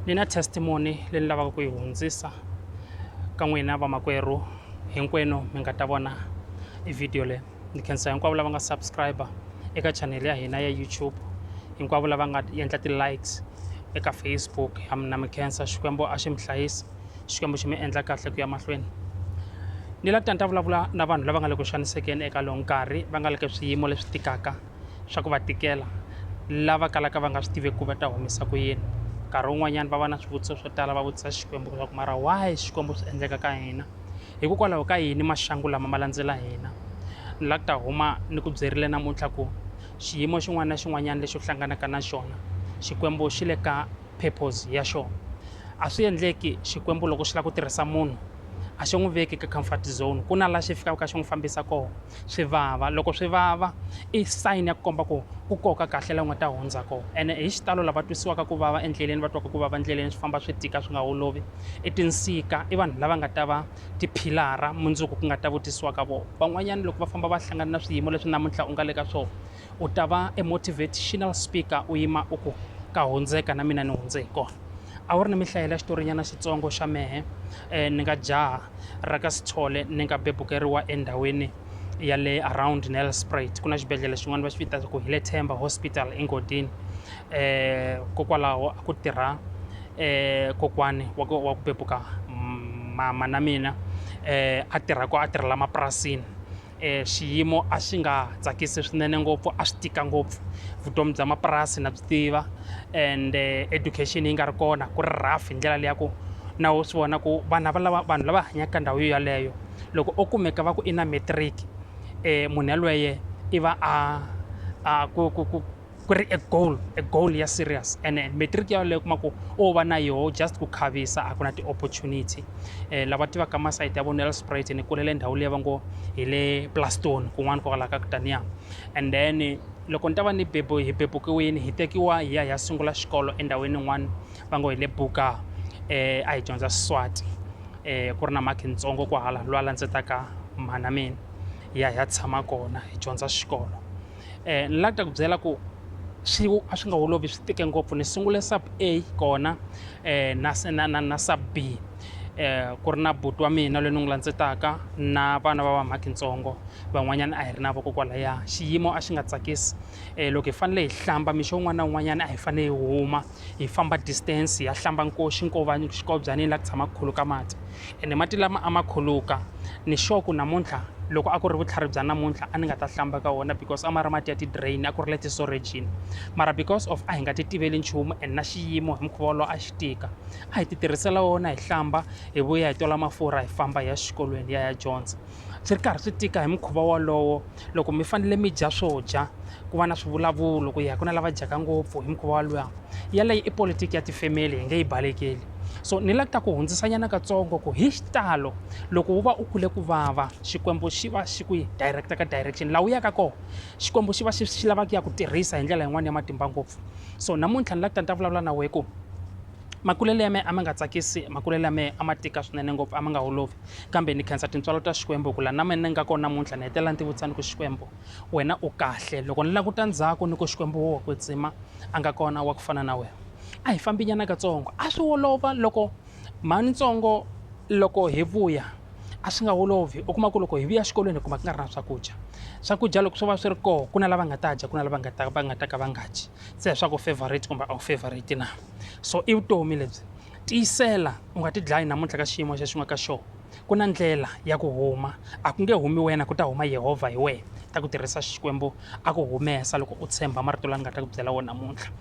ni na testimony leyi ni lavaka ku yi hundzisa ka n'wina vamakwerhu hinkwenu mi nga ta vona i video leyi ni khensa hinkwavo lava nga subscriber eka chanel ya hina ya youtube hinkwavo lava nga endla ti-likes eka facebook ha mina mi khensa xikwembu a xi mi hlayisa xikwembu xi mi endla kahle ku ya mahlweni ni la ta ni ta vulavula na vanhu lava nga le ku xanisekeni eka lowu nkarhi va nga le ka swiyimo leswi tikaka swa ku va tikela lava kalaka va nga swi tiveki ku va ta humesa ku yini nkarhi wun'wanyana va va na swivutiso swo tala va vutisa xikwembu leswaku mara why xikwembu swi endleka ka hina hikokwalaho ka yini maxangu lama ma landzela hina ni la ku ta huma ni ku byerile namuntlha ku xiyimo xin'wana na xin'wanyana lexi u hlanganaka na xona xikwembu xi le ka purpose ya xona a swi endleki xikwembu loko xi lava ku tirhisa munhu a xi n'wi veki ka comfort zone ku na laha xi fikaka xi n'wi fambisa kona swi vava loko swi vava i sign ya ku komba ku ku koka kahle la u nga ta hundza kona ene hi xitalo lava twisiwaka ku vava endleleni va twaka ku vava endleleni swi famba swi tika swi nga olovi i tinsika i vanhu lava nga ta va tiphilara mundzuku ku nga ta vutisiwaka vona van'wanyana loko va famba va hlangana na swiyimo leswi namuntlha u nga le ka swona u ta va e motivational speaker u yima u ku ka hundzeka na mina ni hundze hi kona a wu ri ni mihlayela xitorinyana xitsongo xa mehe um ni nga jaha ra ka sithole ni nga bebukeriwa endhawini ya le around nelspruit ku na xibedhlele xin'wana va xi vita ku hi le themba hospital engodini um kokwalaho a ku tirha um kokwani wa ku wa ku bebuka mama na mina um a tirha ko a tirhela mapurasini E xiyimo a xi nga tsakisi swinene ngopfu a swi tika ngopfu vutomi bya mapurasi na byi tiva and eh, education yi nga ri kona ku ri rough hi ndlela leya ku na wo swi vona ku vanhu lava lava vanhu lava hanyaka ka ndhawu yo yaleyo loko o kumeka va ku i na matric um munhu yalweye i va a a ku ku ku ku ri e goal e goal ya serious ene matric ya leyo kuma ku o va na yoho just ku khavisa a ku na ti-opportunity um lava tivaka masayiti ya vona ya le sprite ni kulele ndhawu leyi va ngo hi le plastone kun'wana kwalaho ka kutaniya and then loko ni ta va ni bebo hi bebukiwini hi tekiwa hi ya hi ya sungula xikolo endhawini yin'wana va ngo hi le buka um a hi dyondza siswati um ku ri na mhakhi ntsongo kwahala lwa landzetaka mhana mina hi ya hi ya tshama kona hi dyondza xikolo eh, ni la ta ku byela ku swi a swi nga olovi swi tike ngopfu ni sungule sub a kona eh, na, na, na, na sub b eh, ku ri na buti wa mina loyi ni n'wi landzetaka na vana va vamhaki ntsongo van'wanyana a hi ri na vokokwalaya xiyimo a xi nga tsakisi eh, loko hi fanele hi hlamba mixo un'wana na un'wanyana a hi fanele hi huma hi famba distance hi ya hlamba nkoxi nkovanyi xikobyaneni laha ku tshamaka ku khuluka mati ene mati lama a ma khuluka ni sure ku namuntlha loko a ku ri vutlhari bya namuntlha a ni nga ta hlamba ka wona because a ma ri mati ya ti-drain a ku ri le tisorejini mara because of a hi nga ti tiveli nchumu and na xiyimo hi mukhuva wolowo a xi tika a hi ti tirhisela wona hi hlamba hi vuya hi tola mafurha hi famba hi ya xikolweni hi ya hi ya dyondza swi ri karhi swi tika hi mukhuva wolowo loko mi fanele mi dya swo dya ku va na swivulavulo ku ya hi ku na lava dyaka ngopfu hi mukhuva woluwa yaleyo i politiki ya tifemeli hi nge yi balekeli so ni la ta ku hundzisanyana katsongo ku hi xitalo loko wu va u kule ku vava xikwembu xi va xi ku yi direct ka direction laha wu yaka kona xikwembu xi va xi xi lava ku ya ku tirhisa hi ndlela yin'wani ya matimba ngopfu so namuntlha ni la ku ta ni ta vulavula na wehe ku makulelo ya mehe a ma nga tsakisi makulelo ya mehe a ma tika swinene ngopfu a ma nga holovi kambe ni khensa tintswalo ta Xikwembu ku la na mina ni nga kona namuntlha ni hetelela ni ti vutisa ni ku Xikwembu wena u kahle loko ni languta ndzhaku ni ku Xikwembu wo wa kwetsima a nga kona wa ku fana na wena a hi fambi nyana katsongo a swi olova loko mhani ntsongo loko hi vuya a swi nga olovi u kuma ku loko hi vuya xikolweni hi kuma ku nga ri na swakudya swakudya loko swo va swi ri koho ku na lava nga ta dya ku na lava nga ta va nga ta ka va nga dyi se hi swa ku favorite kumbe a wu favorite na so i vutomi lebyi tiyisela u nga ti dlayi namuntlha ka xiyimo xexi nga ka xona ku na ndlela ya ku huma a ku nge humi wena ku ta huma yehovha hi wena ta ku tirhisa xikwembu a ku humesa loko u tshemba marito lani nga ta ku byela wona namuntlha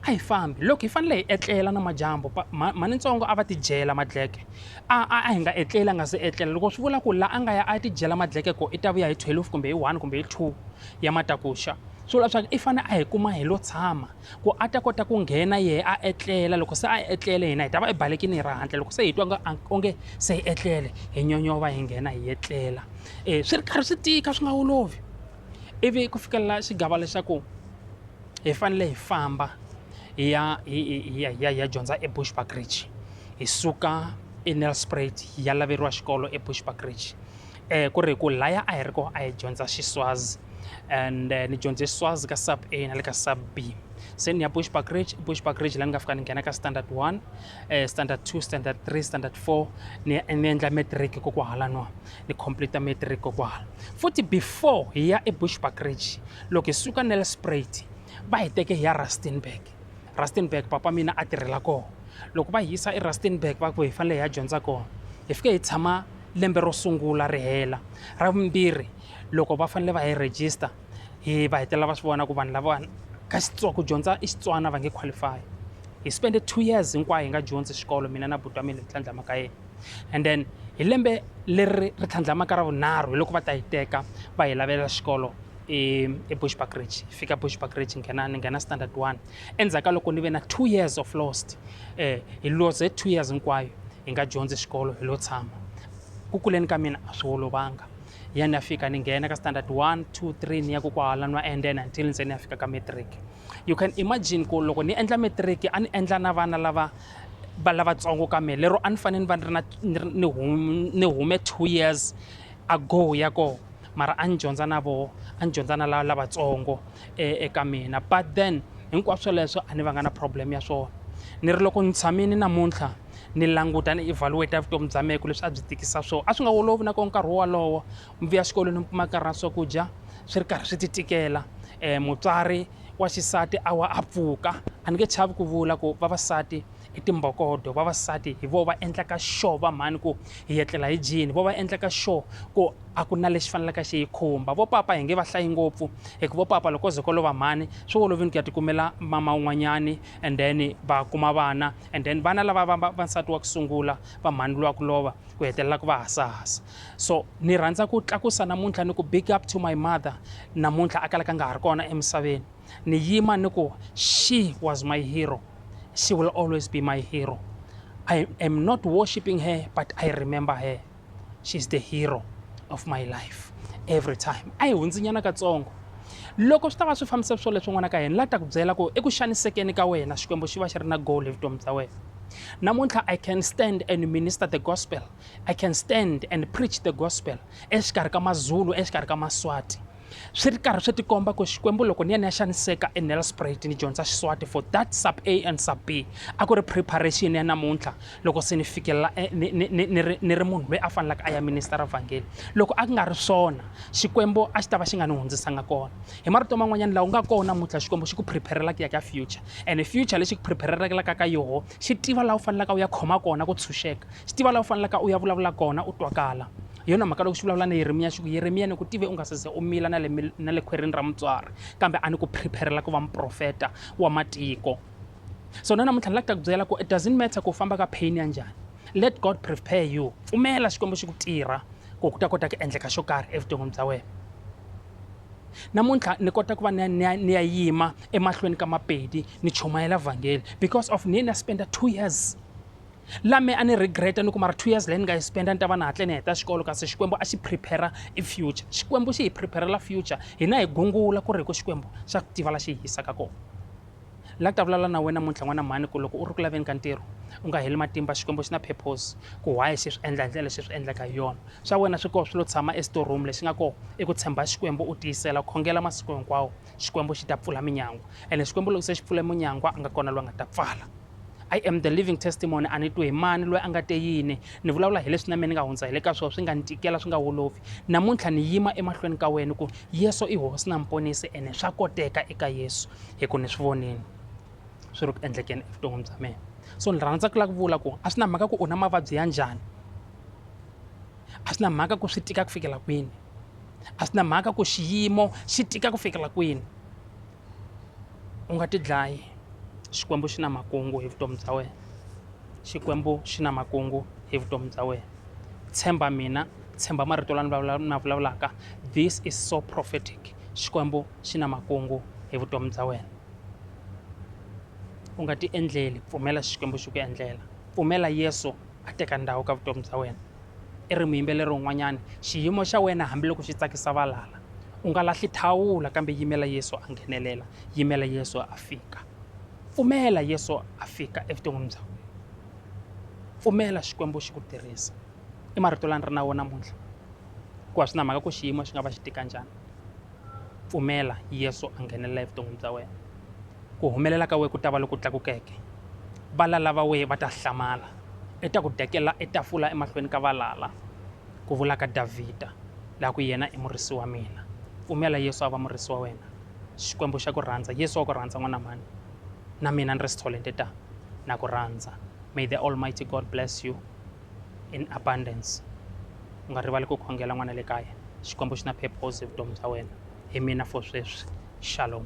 a hi fambi loko hi fanele hi etlela na majambu mhani ntsongo a va ti dyela madleke a a a hi nga etleli a nga se etlela loko swi vula ku la a nga ya a ti dyela madleke ko i ta vuya hi 12 kumbe hi 1 kumbe hi 2 ya matakuxa swi vula leswaku i fanele a hi kuma hi lo tshama ku a ta kota ku nghena yehe a etlela loko se a etlele hina hi ta va ebalekini hi ra handle loko se hi twa onge se hi etlele hi nyonyova hi nghena hi etlela um swi ri karhi swi tika swi nga olovi ivi ku fikelela xigava lexaku hi fanele hi famba hi ya hi ya hi ya hi ya dyondza ebushbuckridge hi suka enelspruit hi ya laveriwa xikolo ebushbuckridge eh, ku ri ku laya a hi ri ko a hi dyondza xiswazi and eh, ni dyondze xiswazi ka sub a na le ka sub b se ni ya bushback ridge bushback ridge la ni nga fika ni nghena ka standard one eh, standard two standard three standard four ni ni endla matric ko kwahala no ni complete matric ko kwahala futhi before hi ya ebushback ridge loko hi suka nelspruit va hi teke hi ya rustenburg rustenburg papa mina a tirhela kona loko va yisa erustenburg va ku hi fanele hi ya dyondza kona hi fike hi tshama lembe ro sungula ri hela ra vumbirhi loko va fanele va hi register hi va hetelela va swi vona ku vanhu lavawani ka xitsonga ku dyondza i xitswana va nge qualify hi spende two years hinkwayo hi nga dyondzi xikolo mina na buti wa mina hi tlhandlama ka yena and then hi lembe leri ri tlhandlamaka ra vunharhu hi loko va ta yi teka va hi lavela xikolo ebushbuckridge e fika bushbuckridge nghena ni nghena standard one endzhaku ka loko ni ve na two years of lost um hi loze two years hinkwayo hi nga dyondzi xikolo hi lo tshama ku kuleni ka mina a swi olovanga ya ni ya fika ni nghena ka standard 1 2 3 ni ya ku kwahala ni va endena until ndze ni ya fika ka matric you can imagine ku loko ni endla matric a ni endla na vana lava va lavatsongo ka mina lero a ni fanele ni va ni ri na ni hume two years ago ya kona mara a ni dyondza na voho a ni dyondza na lavatsongo e, eka mina but then hinkwaswo swoleswo a ni va nga na problem ya swona ni ri loko ni tshamini namuntlha ni languta ni evaluate vutomi bya mehe ku leswi a byi tikisa swona a swi nga olovi na ko nkarhi wolowo mi vuya xikolweni mi kuma karhi na swakudya swi ri karhi swi ti tikela um mutswari wa xisati a wa a pfuka a ni nge chavi ku vula ku vavasati i timbokodo vavasati hi vo va endlaka sure va mhani ku hi etlela hi jini vo va endlaka sure ku a ku na lexi fanelaka xi yi khumba vo papa hi nge va hlayi ngopfu hikuva vo papa loko ze ko lova mhani swi olovini ku ya tikumela mama un'wanyani and then va kuma vana and then vana lava va va nsati wa ku sungula va mhani lowa ku lova ku hetelela ku va hasahasa so ni rhandza ku tlakusa namuntlha ni ku big up to my mother namuntlha a kalaka nga ha ri kona emisaveni ni yima ni ku she was my hero She will always be my hero. I am not worshipping her, but I remember her. She's the hero of my life every time. A hi hundzinyana katsongo. Loko swi ta va swi fambisa swo leswi n'wana ka yena la ta ku byela ku eku xanisekeni ka wena Xikwembu xi va xi ri na goal hi vutomi bya wena. Namuntlha I can stand and minister the gospel. I can stand and preach the gospel exikarhi ka maZulu, exikarhi ka maSwati. swi ri karhi swi tikomba ku xikwembu loko ni ya ni ya xaniseka enelspruit ni dyondza xiswati for that sub a and sub b a ku ri preparation ya namuntlha loko se ni fikelela eh, ni, ni, ni, ni, ni ri munhu loyi a faneleke a ya ministera vhangeli loko a ku nga ri swona xikwembu a xi ta va xi nga ni hundzisanga kona hi marito man'wanyana laha u nga kona namuntlha xikwembu xi ku preparela ku ya ka future and future lexi ku preparelaka ka yoho xi tiva laha u faneleka u ya khoma kona ku tshunxeka xi tiva laha u faneleka u ya vulavula kona u twakala Hi yona mhaka loko xi vulavula na Yeremiya xi ku, Yeremiya, ni ku tive u nga se ze u mila na le, na le khwerini ra mutswari, kambe a ni ku prepare-rela ku va muprofeta wa matiko. So na namuntlha ni lava ku ta ku byela ku it doesn't matter ku u famba ka pain ya njhani, let God prepare you. Pfumela Xikwembu xi ku tirha ku ku ta kota ku endleka xo karhi evuton'wini bya wena. Namuntlha ni kota ku va ni ya, ni ya, ni ya yima emahlweni ka Mapedi ni chumayela vhangeli because of ni ye ni ya spend-a two years. la me a ni regreta ni ku mara two years leyi ni nga yi spenda ni ta va ni hatle ni heta xikolo kasi xikwembu a xi prepare i future xikwembu xi hi preparela future hina hi gungula ku ri hi ku xikwembu xa ku tiva la xi hi yisaka kona la ta vulavula na wena muntlha n'wana mhani ku loko u ri ku laveni ka ntirho u nga heli matimba xikwembu xi na purpose ku why xi swi endla hi ndlela leswi swi endlaka hi yona swa wena swi koho swi lo tshama esitoreroom lexi nga koho i ku tshemba xikwembu u tiyisela khongela masiku hinkwawo xikwembu xi ta pfula minyangwa ene xikwembu loko se xi pfule munyangwa a nga kona loyi a nga ta pfala I am the living testimony a ni twi hi mani loyi a nga te yini ni vulavula hi leswi na mina ni nga hundza hi le ka swona swi nga ni tikela swi nga wolovi namuntlha ni yima emahlweni ka wena ku yesu i hosi na muponisi ene swa koteka eka yesu hi ku ni swi vonini swi ri ku endlekeni evuton'wini bya mina so ni rhandza ku lava ku vula ku a swi na mhaka ku u na mavabyi ya njhani a swi na mhaka ku swi tika ku fikela kwini a swi na mhaka ku xiyimo xi tika ku fikela kwini u nga ti dlayi xikwembu xi na makungu hi vutomi bya wena xikwembu xi na makungu hi vutomi bya wena tshemba mina tshemba marito lani na vulavulaka this is so prophetic xikwembu xi na makungu hi vutomi bya wena u nga ti endleli pfumela xikwembu xi ku endlela pfumela yesu a teka ndhawu ka vutomi bya wena I ri muyimbeleri un'wanyana, xiyimo xa wena hambiloko xi tsakisa valala, u nga lahli thawula kambe yimela Yesu a nghenelela, yimela Yesu a fika. Pfumela Yesu a fika evuton'wini bya wena. Pfumela Xikwembu xi ku tirhisa. I marito lani ri na wona namuntlha. Ku a swi na mhaka ku xiyimo xi nga va xi tika njhani. Pfumela Yesu a nghenelela evuton'wini bya wena. Ku humelela ka wena ku ta va loku tlakukeke. Valala va wena va ta hlamala, i ta ku dekela etafula emahlweni ka valala, ku vula ka Davhida, la ku yena i murisi wa mina. Pfumela Yesu a va murisi wa wena. Xikwembu xa ku rhandza. Yesu wa ku rhandza n'wana mhani. Na mina ni ri Stholenthe ta na ku rhandza. May the Almighty God bless you. in abundance u nga rivali ku khongela n'wana le kaya xikwembu xi na purpose hi vutomi bya wena hi mina for sweswi shalom